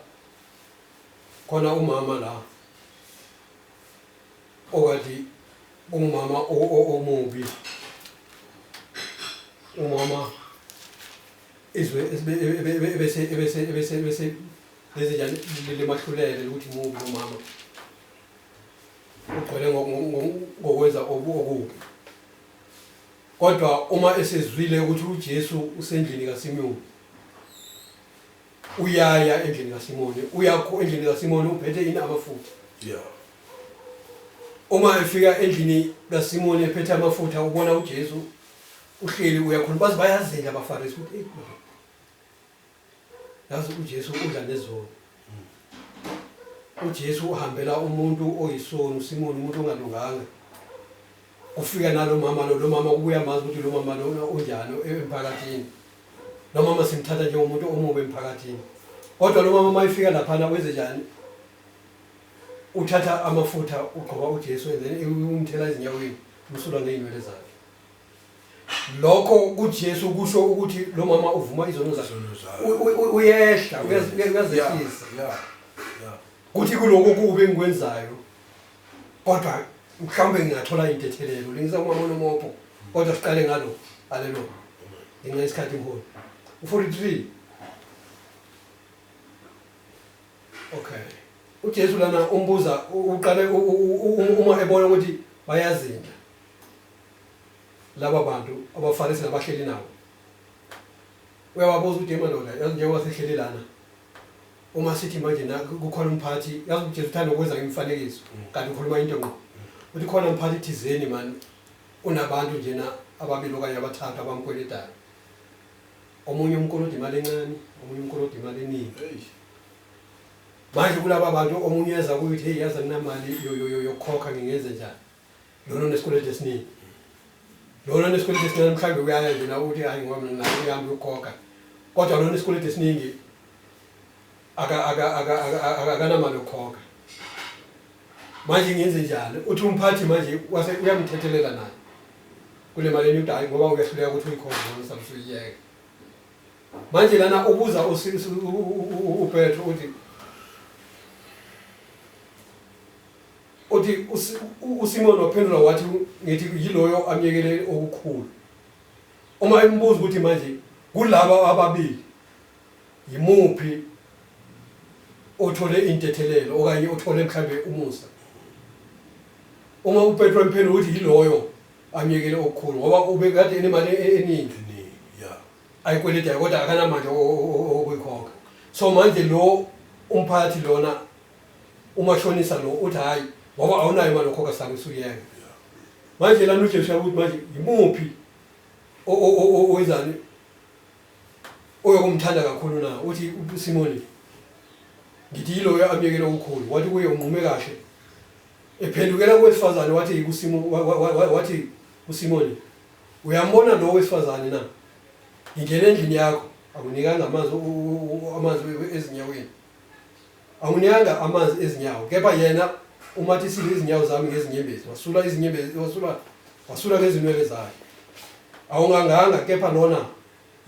khona umama la okati umama omubi umama izwe ebese ebese ebese ebese lezinjani lemahlulele ukuthi mubi umama ugcwele ngokwenza okubi kodwa uma esezwile ukuthi uJesu usendlini kaSimoni uyaya endlini kaSimoni uyakho endlini kaSimoni uphethe ini amafutha yeah uma efika endlini kaSimoni ephethe amafutha ubona uJesu uhleli uyakhuluma baze bayazela abaFarisi ukuthi yazi uJesu udla nezoni uJesu uhambela umuntu oyisoni uSimoni umuntu ongalunganga ufika nalo mama lo lo mama ubuya mazi ukuthi lo mama lona unjani emphakathini lo mama simthatha njengomuntu omubi emphakathini kodwa lo mama mayifika laphana wenze njani uthatha amafutha ugqoba uJesu and then umthela ezinyaweni umsula ngeenywele zakhe lokho kuJesu kusho ukuthi lo mama uvuma izono zakhe uyehla uyazehlisa kuthi kuloko kubi engikwenzayo kodwa mhlawumbe ngingathola intethelelo lengisa umama onomopo kodwa siqale ngalo alelo ngenxa isikhathi mholi u-43 okay uJesu lana umbuza uqale uma ebona ukuthi bayazinda laba bantu abafane singabahleli nabo uyawabuza ukuthi madoda yazi njengoba sihleli lana uma sithi manje kukhona umphathi yazi ujesu uthanda ukwenza ngemifanekiso mm. kanti ukhuluma into ngqo uthi khona umphathi thizeni mani unabantu njena ababili okanye abathathu abamkweletayo omunye umkolodi imali encane omunye umkolodi imali eningi manje kulaba bantu omunye eza kuyithi heyi yazi anginamali yokukhokha ngingenze njani lona onesikweletu esiningi lona onesikweletu esincane mhlawumbe uyaya nje nawe uthi hayi ngoba mina nayo yami yokukhokha kodwa lona onesikweletu esiningi aka- aka- aka- aka- aka- akanamali yokukhokha manje ngenze njani uthi umphathi manje wase uyamthethelela naye kule mali enyuda hayi ngoba uyahluleka ukuthi uyikhokhe noma mhlawumbe usuyiyeke manje lana ubuza usi- usi- u- u- u- u- upetro uthi Uthi uSimoni waphendula wathi ngithi yiloyo amyekele okukhulu. Uma embuza ukuthi manje kulaba ababili yimuphi othole intethelelo okanye othole mhlambe umusa. Uma uPetro emphendula ukuthi yiloyo amyekele okukhulu ngoba ubekade enemali e-, eningi. Yeah. Ayikweleta kodwa akanamandla okuyikhokha. So manje lo umphathi lona umashonisa lo uthi hayi ngoba awunayo imali okhokha sami usuyeka manje lana ujesu yakuthi manje yimuphi owenzani oyokumthanda kakhulu na uthi usimoni ngithi yiloyo amyekele okukhulu wathi kuye unqume kahle ephendukela kowesifazane wathi wathi usimoni uyambona lo wesifazane na ngingena endlini yakho akunikanga amanzi amanzi ezinyaweni Anginyanga amanzi ezinyawo kepha yena umathisile izinyawo zami ngezinyembezi wasula izinyembezi wasula wasula ngezinwele zakhe awunganganga kepha lona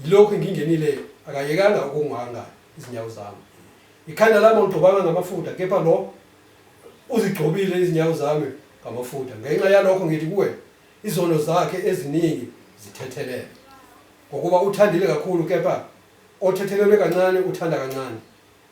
yilokhu ngingenile akayekanga ukunganga izinyawo zami ikhanda lami awugcobanga ngamafutha kepha lo uzigcobile izinyawo zami ngamafutha ngenxa yalokho ngithi kuwe izono zakhe eziningi zithethelele ngokuba uthandile kakhulu kepha othethelelwe kancane uthanda kancane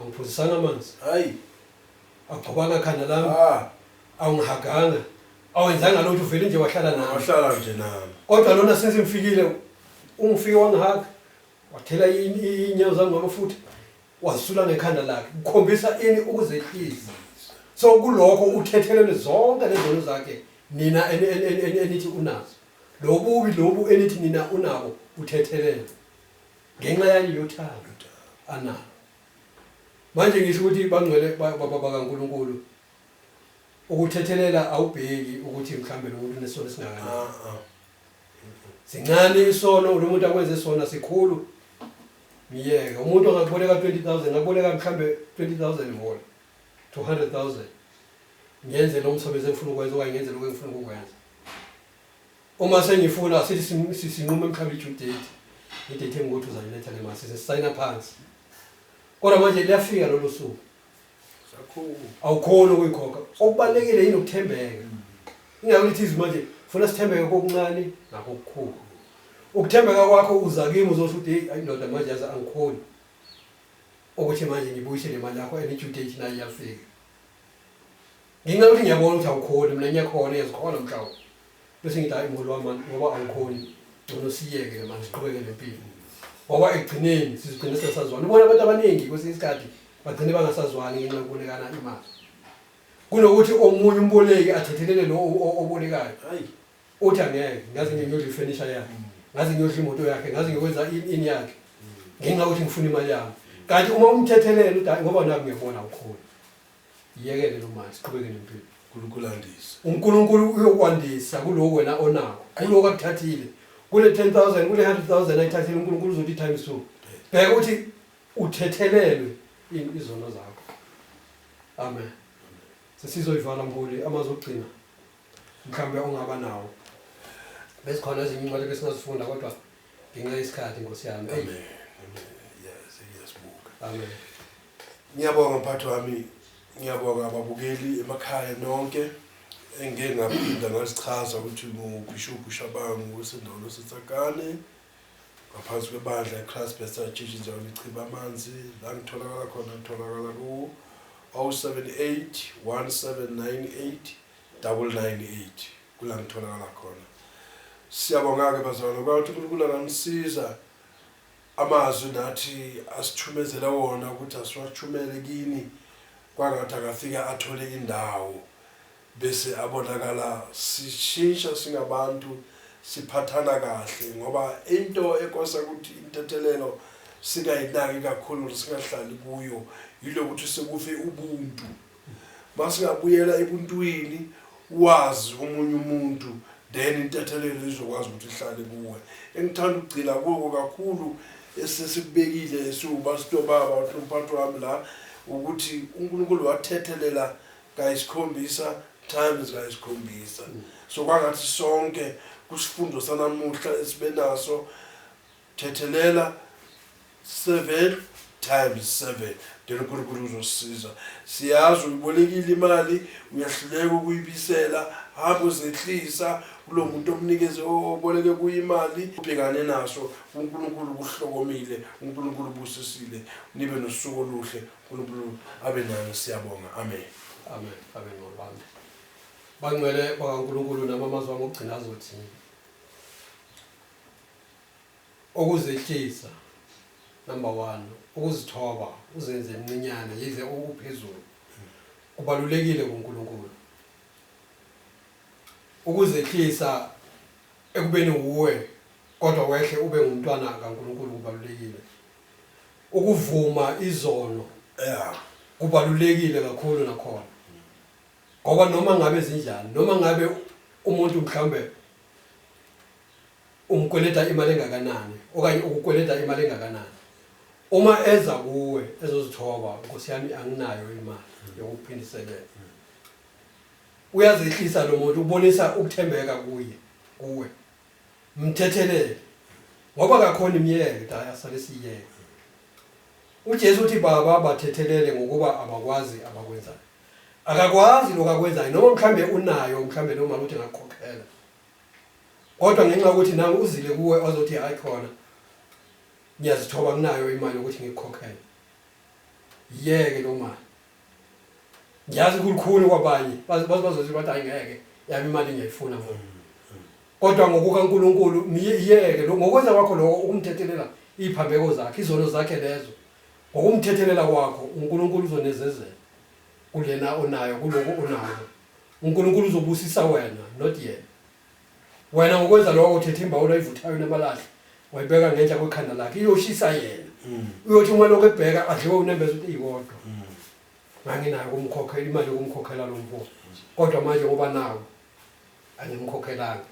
Angiphuzisanga amanzi. Hayi. Agcobanga khanda lami. Ah. Awungihaganga. Awenzanga lutho uvele nje wahlala nami. Wahlala nje nami. Kodwa lona since ngifikile ungifike wangihaga. Wathela ini inyawo zami ngamafutha. Wasula ngekhanda lakhe. Ukhombisa ini ukuzehlisa. So kulokho uthethelele zonke lezono zakhe nina enithi unazo. Lobubi lobu enithi nina unabo uthethelele. ngenxa yani yothando analo manje ngisho ukuthi bangcwele bakaNkuluNkulu ukuthethelela awubheki ukuthi mhlambe lo muntu unesono singakanani ah, ah. sincane isono lo muntu akwenze sona sikhulu myeke umuntu angakuboleka 20000 ngakuboleka mhlambe 20000 vol 200000 ngenze lo msebenzi engifuna ukwenza okanye ngenze lokho engifuna ukukwenza Uma sengifuna sithi sin- si- sinqume mhlawumbe i-due date, i-date engukuthi uzaliletha le mali, size sisayina phansi. Kodwa manje liyafika lolo suku, awukhoni ukuyikhokha. Okubalulekile yini ukuthembeka. Ingakho lithi izwi manje, funa sithembeke kokuncane nakokukhulu. Ukuthembeka kwakho uza kimi uzosho ukuthi heyi ayindoda manje yazi angikhoni ukuthi manje ngibuyise le mali yakho and i-due date nayo iyafika. Ngenxa yokuthi ngiyabona ukuthi awukhoni mina ngiyakhona iyazikhona mhlawu bese ngithi hayi mholi wami ngoba awukhoni ngcono siyeke ke manje siqhubeke nempilo ngoba ekugcineni sizigcine sesazwana ubona abantu abaningi kwesinye isikhathi bagcine bangasazwani ngenxa yokubolekana imali kunokuthi omunye umboleki athethelele lo obolekayo uthi angeke ngaze ngiyodla ifurniture yakhe ngaze ngiyodla imoto yakhe ngaze ngiyokwenza ini yakhe ngenxa yokuthi ngifuna imali yami kanti uma umthethelela uthi ngoba naku ngiyabona awukhoni Yekele lo manje siqhubeke nempilo. uNkulunkulu andise uNkulunkulu uyokwandisa kuloku wena onako kuloku akuthathile kule 10000 kule 100000 ayithathile uNkulunkulu uzothi times 2 bheka ukuthi uthethelelwe in- izono zakho amen sesizoyivala mbuli amazwi okugcina mhlawumbe ongaba nawo bezikhona ezinye incwadi besingazifunda kodwa ngenxa yesikhathi nkosi yami Eyi, amen amen yes iyazibuka amen Ngiyabonga mphathi wami, ngiyabonga ababukeli emakhaya nonke engike ngaphinda ngazichaza ukuthi nguBhishobhu Shabangu weSindolo Sitsakane ngaphansi kwebandla iChrist Bethel Church indawo lichiba amanzi la ngitholakala khona ngitholakala ku 078 1798 998 kula ngitholakala khona siyabonga-ke bazalwane kwawuthi unkulunkulu anganisiza Amazwi nathi asithumezele wona ukuthi asiwathumele kini kwangathi akafike athole indawo bese abonakala sishintsha singabantu siphathana kahle ngoba into ekosa ukuthi intethelelo singayinaki kakhulu singahlali kuyo yilokuthi sekufe ubuntu. Masingabuyela ebuntwini wazi omunye umuntu then intethelelo izokwazi ukuthi ihlale kuwe. Engithanda ukugcila kuko kakhulu esesikubekile esiwubasito baba umphathi wami la ukuthi uNkulunkulu wathethelela kayisikhombisa times kayisikhombisa. So kwangathi sonke kusifundo sanamuhla esibenaso thethelela 7 times 7 then unkulunkulu uzosisiza siyazi uyibolekile imali uyahluleka ukuyibisela hamba uzehlisa kulo muntu omnikeze oboleke kuye imali ubhekane naso unkulunkulu kuhlokomile unkulunkulu busisile nibe nosuku oluhle unkulunkulu abe nani siyabonga amen amen amen ngolwami bangcwele bakankulunkulu nabamazwa ngokugcina azothini Ukuzehlisa, number one, ukuzithoba, uzenze mncinyane yize u uphezulu, kubalulekile kuNkulunkulu. Ukuzehlisa ekubeni wuwe kodwa wehle ube ngumntwana kaNkulunkulu kubalulekile. Ukuvuma izono Yeah. kubalulekile kakhulu nakhona ngoba noma ngabe zinjani noma ngabe umuntu mhlawumbe Ungikweleta imali engakanani okanye ukukweleta imali engakanani. Uma eza kuwe ezozithoba Nkosi yami anginayo imali yokukuphindiselela. Uyazehlisa lo muntu ubonisa ukuthembeka kuye kuwe. Mthethelele. Ngoba kakhona imyeke daya sale siyeke. UJesu uthi baba bathethelele ngokuba abakwazi abakwenzayo. Akakwazi lokho akwenzayo noma mhlambe unayo mhlambe noma uthi ngakukhokhela. kodwa ngenxa yokuthi nawe uzile kuwe ozothi hayi khona ngiyazithoba kunayo imali yokuthi ngikukhokhele yeke lo mali ngiyazi kulikhulu kwabanye bazothi bathi hayi ngeke yami imali ngiyayifuna ngoba kodwa ngokukaNkuluNkulu miyeke ngokwenza kwakho lokho ukumthethelela iphambeko zakhe izono zakhe lezo ngokumthethelela kwakho uNkuluNkulu uzonezezela kulena onayo kuloku onako uNkulunkulu uzobusisa wena not yena wena ngokwenza lokho uthethe imbawula ayivuthayo namalahle wayibeka ngenhla kwekhanda lakhe iyoshisa yena mm. uyothi uma lokho ebheka adliwe unembeza ukuthi iyikodwa mm. nganginayo kumkhokhela imali yokumkhokhela lo mfo kodwa manje ngoba nawo angimkhokhelanga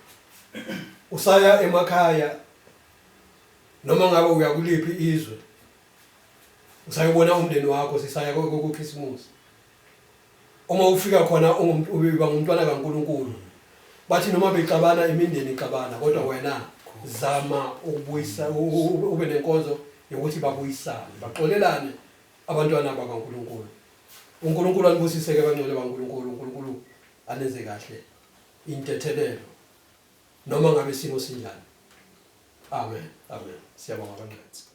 usaya emakhaya noma ngabe uyakuliphi izwe usayobona umndeni wakho sisaya kokhisimusi Uma ufika khona ubiba ngumntwana kaNkulunkulu. Bathi noma bexabana imindeni ixabana kodwa wena zama ukubuyisa ube nenkonzo yokuthi babuyisane baxolelane abantwana bakaNkulunkulu. UNkulunkulu anibusise-ke bangcwele baNkulunkulu, uNkulunkulu anenze kahle intethelelo noma ngabe isimo sinjani. Amen. Amen. Siyabonga bangcwele.